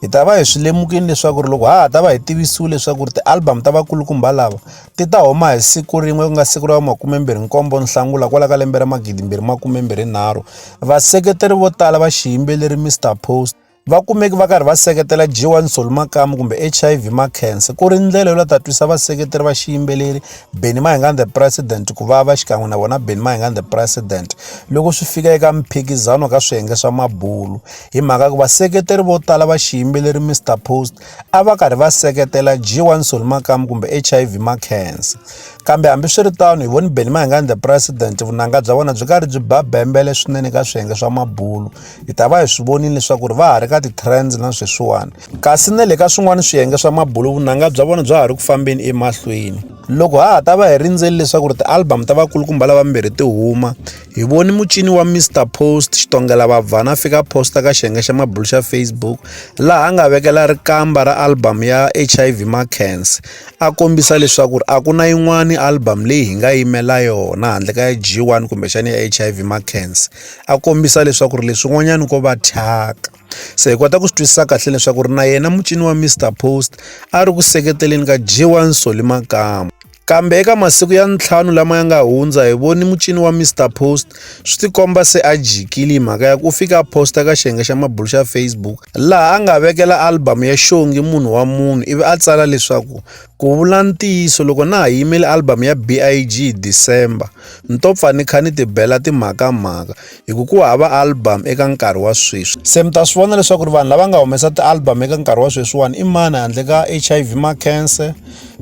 hi ta va hi swi lemukile leswaku ri loko ha ha ta va hi tivisiwi leswaku ri ti-album ta vakulukumba lava ti ta huma hi siku rin'we ku nga siku ra makumembirhi nkombo Nhlangula kwala ka lembe ra magidimbirhi makumembirhi nharhu vaseketeri vo tala va xiyimbeleri Mister Post va kumeki va karhi va seketela G1 Soul Makamu kumbe HIV Makhense ku ri ndlela yo la ta twisa vaseketeri va xiyimbeleri Benny Mayengani the President ku va va xikan'we na vona Benny Mayengani the President loko swi fika eka mphikizano ka swiyenge swa mabulu hi mhaka ku vaseketeri vo tala va xiyimbeleri Mr Post a va karhi va seketela G1 Soli Makamu kumbe HIV Mackenzie kambe hambiswiritano hi voni Benny Mayengani the president vunanga bya vona byi karhi byi ba bembele swinene ka swiyenge swa mabulo hi ta va hi swi vonile leswaku ri va ha ri ka ti-trends na sweswiwani kasi na le ka swin'wana swiyenge swa mabulo vunanga bya vona bya ha ri ku fambeni emahlweni loko ha ha ta va hi rindzeli leswaku ri ti-album ta vakulukumba lavambirhi ti huma hi voni mucini wa mr post xitongela vabvana a fika posta ka xiyenge xa mabulu xa facebook laha a nga vekela rikamba ra album ya hiv macans a kombisa leswaku ri a ku na yin'wani album leyi hi nga yimela yona handle ka ya g one kumbexani ya hiv macans a kombisa leswaku ri leswin'wanyani ko va thyaka se hi kota ku swi twisisa kahle leswaku ri na yena mucini wa mr post a ri ku seketeleni ka g one soli makama Kambe eka masiku ya ntlhanu lama ya nga hundza hi voni mucini wa Mister Post swi tikomba se a jikile hi mhaka ya ku u fika a posta ka xiyenge xa mabulo xa Facebook laha a nga vekela album ya Xongi munhu wa munhu ivi a tsala leswaku ku vula ntiyiso loko na ha yimele album ya BIG hi December ni to pfa ni kha ni ti bela timhakamhaka hi ku ku hava album eka nkarhi wa sweswi se mi ta swi vona leswaku ri vanhu lava nga humesa ti-album eka nkarhi wa sweswiwani i mani handle ka h i v makense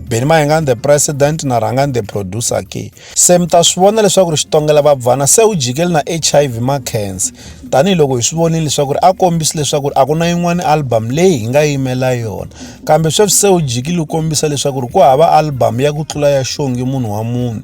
beni mayengan the president na rhangani the producer ke se mi ta swi vona leswaku ri xitongela vabvana se u jikeli na h i v makense tanihiloko hi swi vonile leswaku ri a kombisi leswaku ri a ku na yin'wana album leyi hi nga yimela yona kambe sweswi se u jikile u kombisa leswaku ri ku hava album ya ku tlula ya xongi munhu wa munhu